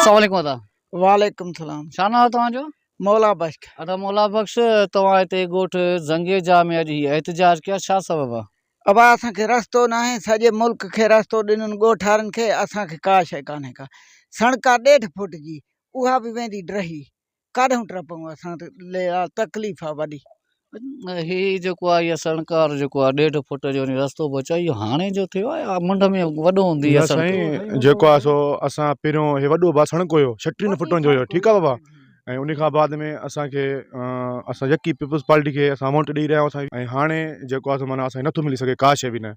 السلام عليڪم ادا وعليڪم السلام ڇا ناو توهان جو مولا بخش ادا مولا بخش توهان هتي ڳوٺ زنگي جا ۾ اڄ هي احتجاج ڪيا ڇا سبب آ ابا اسان کي رستو نه آهي سڄي ملڪ کي رستو ڏنن ڳوٺارن کي اسان کي ڪا شي ڪانهي ڪا سڻڪا ڏيڍ فوٽ جي اها به ويندي ڊهي ڪاڏهون ٽپون اسان تي تڪليف آ وڏي. هي جيڪو آ اهي سڻڪار جيڪو آ ڏيڍ فٽ جو ني رستو به اچي اهو هاڻي جو ٿيو آ يا منڍ ۾ وڏو هوندي نه سائين جيڪو آ سو اسان پهريون هي وڏو با سڻڪو هيو ڇٽيهن فٽن جو هيو ٺيڪ آ بابا ۽ انهي کان بعد ۾ اسانکي اسان يڪي پيپلز پارٽي کي اسان وونٽ ڏئي رهيا هياسين ۽ هاڻي جيڪو آ سو معنيٰ اسانکي نٿو ملي سگهي ڪا شي به نه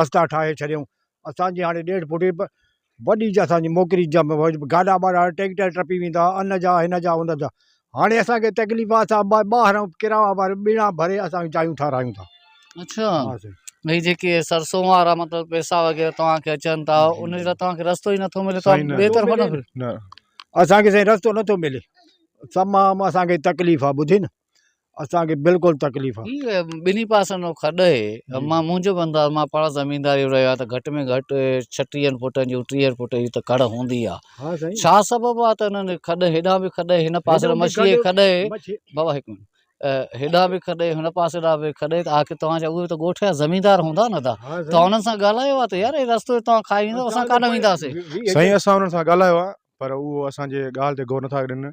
رستا ٺاهي ڇڏيائون اسان جي هاڻي ڏيڍ فٽي به وڏي جا اسان جي موڪري جا گاڏا ٻاڏا ٽيڪٽر ٽپي ويندا ان جا هن جا ان جا هاڻي اسانکي تڪليف آ اسان ٻا ٻاهران ڪرايا وارا ٻيڻا ڀري اسان جايون ٺارايون ٿا اڇا ها سائين هي جيڪي سرسو وارا مطلب پيسا وغيره توهان کي اچن ٿا ان جي لاء توهان کي رستو ئي نٿو ملي توهان سائين، ن. ٻئي رستو طرفان ملي نه. نه اسانکي سائين رستو نٿو ملي تمام اسانکي تڪليف آ ٻڌي نه اسان کي بلڪل تڪليف آ. هي ٻنهي پاسن جو کڏ اهي مان منهنجو به انداز مان پاڻ زمينداري رهيو آهيان ته گهٽ ۾ گهٽ ڇٽيهن فٽن جون ٽيهن فٽن جي ته کڙ هوندي آ ها سائين ڇا سبب آ ته انهن کڏ هيڏانهن به کڏ هن پاسي هيڏانهن به مڇيء جي کڏ کڏ اهي مڇي بابا هڪ منٽ هيڏانهن به کڏ هن پاسي ڏانهن به کڏ ته آخر توهان جا اهي ته ڳوٺ جا زميندار هوندا نه ته ها توهان سائين انهن سان ڳالهايو آ ته يار هي رستو توهان کائي ويندو اسان اسان ته ڪانه پنج وينداسين ويهه سائين اسان انهن سان ڳالهايو آ پر اهو اسان جي ڳالهه تي غور نٿا ڏين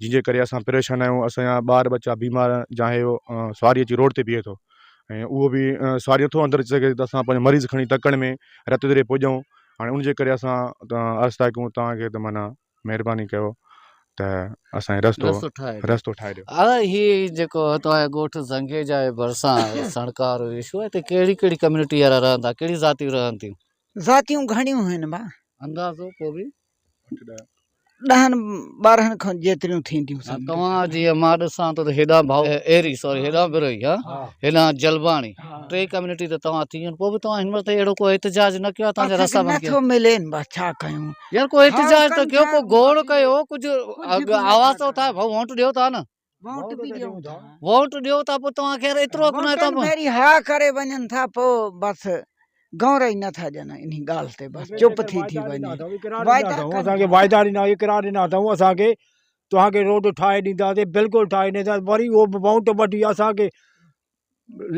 جنهن جي ڪري اسان پريشان آهيون اسان جا ٻار ٻچا بيمار جا هي هو سواري اچي روڊ تي بيهي ٿو ۽ اهو بي سواري نٿو اندر اچي سگهي ته اسان پنهنجو مريض کڻي تڪڙ ۾ رت دري پڄون هاڻي ان جي ڪري اسان عرض ٿا ڪيون تهانکي ته معنيٰ مهرباني ڪيو ته اسان کي رستو رستو ٺاهي ڏيو رستو ٺاهي ڏيو آ هي جيڪو توهان جي ڳوٺ زنگي جا هي ڀرسان سڻڪار هي شو هتي ڪهڙي ڪهڙي ڪميونٽي وارا رهندا ڪهڙي ذاتيون رهن ٿيون ذاتيون گهڻيون آهن ڀا اندازو ڪو به ڏهن ٻارهن کن جيتريون ٿينديون سن توهان جي مان ڏسان ٿو ته هيڏا ڀائو ايري سوري هيڏا بروهي ها هيڏا جلباڻي ٽي ڪميونٽي ته توهان ٿي وڃو پوء به توهان هن وقت تائين اهڙو ڪو احتجاج نه ڪيو آهي توهان جا رستا بند ڪيا نٿو ملين بس ڇا ڪيون يار ڪو احتجاج ته ڪيو ڪو گوڙ ڪيو ڪجهه آواز ته اٿايو ڀائو ووٽ ڏيو ٿا نه ووٽ به ڏيون ٿا ووٽ ڏيو ٿا پوء توهان کي ايترو ڪنهن ٿا ووٽن ڀيري ها ڪري وڃن ٿا پوء بس گور ئي نه ٿا ڄن انهي ڳالهه تي بس چپ ٿي ٿي وڃي وعدا ڪن. اسان کي وعدا ڏنا اقرار ڏنا اٿئون اسان کي توهان کي روڊ ٺاهي ڏينداسين بلڪل ٺاهي ڏينداسين وري اهو به ووٽ وٺي اسان کي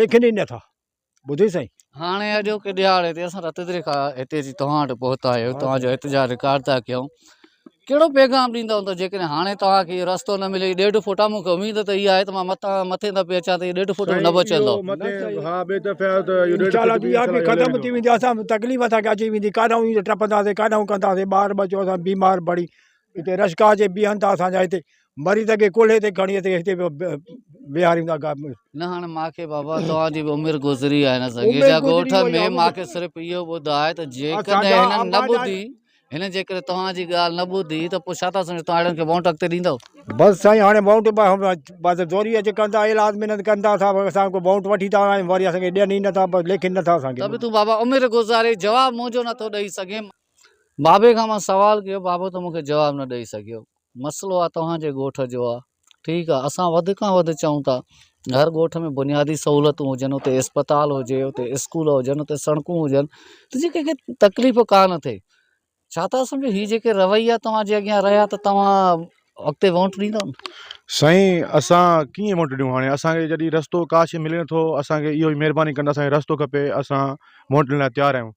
ليکن ئي نٿا ٻڌو سائين هاڻي اڄوڪي ڏهاڙي تي اسان رت دري کان هتي اچي توهان وٽ پهتا آهيون توهان جو احتجاج رڪارڊ ٿا ڪيون ڪهڙو پيغام ڏيندا هوندا جيڪڏهن هاڻي توهان کي رستو نه ملي ڏيڍ فوٽا مون کي اميد ته اها آهي ته مان متان مٿي دفعي اچان ته ڏيڍ فوٽ نه بچندو ها ٻي دفعي آيو ته اهو ڏيڍ فوٽ به آهي ختم ٿي ويندي اسان تڪليف اسان کي اچي ويندي ڪاڏانهون ايندي ٽپنداسي ڪاڏانهون ڪنداسي ٻار ٻچو اسان بيمار پڙي هتي رشڪا اچي بيهن ٿا اسان جا هتي مريض کي ڪلهي تي کڻي اچي هتي ويهاريندا ڪا نه هاڻ ماکي بابا توهان جي به عمر گذري آهي نه سگهي جا ڳوٺ ۾ ماکي صرف اهو ٻڌاء ته جيڪڏهن هنن نه ٻڌي هن جيڪڏهن توهان جي ڳالهه نه ٻڌي ته پوء ڇا ٿا سمجهو توهان اهڙن کي وونٽ اڳتي ڏيندو بس سائين هاڻي وونٽ بس زوري اچي ڪندا علاج محنت ڪندا ٿا اسان کي وونٽ وٺي ٿا آيون وري اسان کي ڏين ئي نٿا بس ليکين نٿا اسان کي ته به تون بابا عمر گذاري جواب منهنجو نٿو ڏئي سگهين بابي کان مان سوال ڪيو بابو تو مونکي جواب نه ڏئي سگهيو مسئلو آ توهان جي ڳوٺ جو آ ٺيڪ آ اسان وڌ کان وڌ چئون ٿا هر ڳوٺ ۾ بنيادي سهولتون هجن اتي اسپتال هجي اتي اسڪول هجن اتي سڙڪون هجن ته جيئن ڪنهن کي تڪليف ڪا نه ٿئي ڇا ٿا سمجهو هي جيڪي رويا توهان جي اڳيان رهيا ته توهان اڳتي وونٽ ڏيندو سائين اسان ڪيئن وونٽ ڏيون هاڻي اسان کي جڏهن رستو ڪاش ملي نٿو اسان کي اهو ئي مهرباني ڪندا سائين رستو کپي اسان وونٽ ڏيڻ لاء تيار آهيون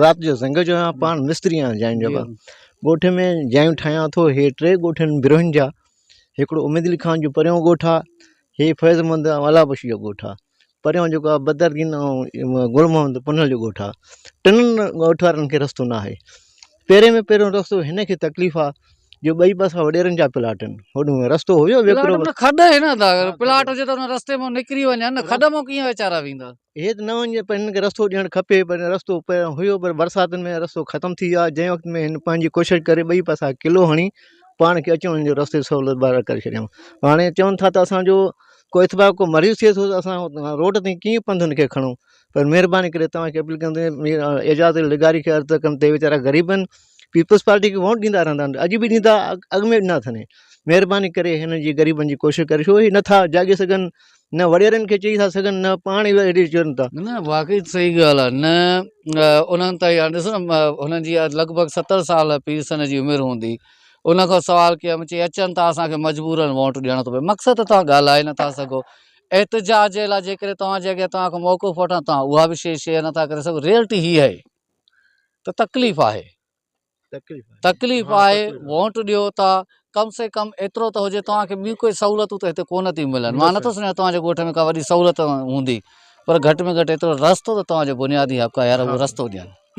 رات جو سنگ جو آهيان پاڻ مستري آهيان جاين جو ڳوٺ ۾ جايون ٺاهيان ٿو هي ٽي ڳوٺ آهن بروهين جا هڪڙو اميد علي خان جو پريون ڳوٺ آهي هي فيض محمد آلا بخش جو ڳوٺ آهي پريون جيڪو آهي بدردين ۽ گل محمد پنهل جو ڳوٺ آهي ٽنهن ڳوٺ وارن کي رستو ناهي پهرين ۾ پهريون رستو هن کي تڪليف آهي جو ٻئي پاسا وڏيرن جا پلاٽ آهن هوڏو رستو هيو کڏ هن پلاٽ هجي ته رستي مون نڪري وڃن کڏ مون ڪيئن ويچارا ويندا هي ته نه وڃي پر هن کي رستو ڏيڻ کپي پر رستو پهريان هيو پر برساتن ۾ رستو ختم ٿي ويو آهي جنهن وقت ۾ هن پنهنجي ڪوشش ڪري ٻئي پاسا قلعو هڻي پاڻ کي اچڻ وڃڻ جو رستي جي سهولت بحال ڪري ڇڏيائون هاڻي چون ٿا ته اسانجو ڪو اتفاق ڪو مريض ٿئي ٿو ته اسان روڊ تائين ڪيئن پنڌ هن کي کڻون پر مهرباني ڪري توهان کي اپيل ڪندو آهيان مير اعجاز علي لغاري کي عرض ٿا ڪن ته هي ويچارا غريب آهن پيپلز پارٽي کي ووٽ ڏيندا رهندا آهن اڄ به ڏيندا اڳ ۾ ڏنا اٿن مهرباني ڪري هنن جي غريبن جي ڪوشش ڪريو ڇو هي نٿا جاڳي سگهن نه وڏيرن کي چئي ٿا سگهن نه پاڻ ئي اهڙي چون ٿا. نه واقعي صحيح ڳالهه آهي نه انهن تائين هاڻي ڏسو نه انهن جي لڳ ڀڳ ستر سال پير سن جي عمر هوندي انهن کان سوال ڪيا مون چي اچن ٿا اسان کي مجبورن ووٽ ڏيڻو ٿو پئي مقصد ته توهان ڳالهائي نٿا سگهو احتجاج جي لاء جيڪڏهن توهان جي اڳيان توهان کان موقف وٺان توهان اها به شيء شيئر نٿا ڪري سگهو ريئلٽي هي آهي ته تڪليف آهي تڪليف آهي ووٽ ڏيو ٿا ڪم سي ڪم ايترو ته هجي توهان کي ٻيون ڪوئي سهولتون ته هتي ڪونه ٿي ملن مان نٿو سمجهان توهان جي ڳوٺ ۾ ڪا وڏي سهولت هوندي پر گهٽ ۾ گهٽ ايترو رستو ته توهان جو بنيادي حق آهي يار اهو رستو ڏين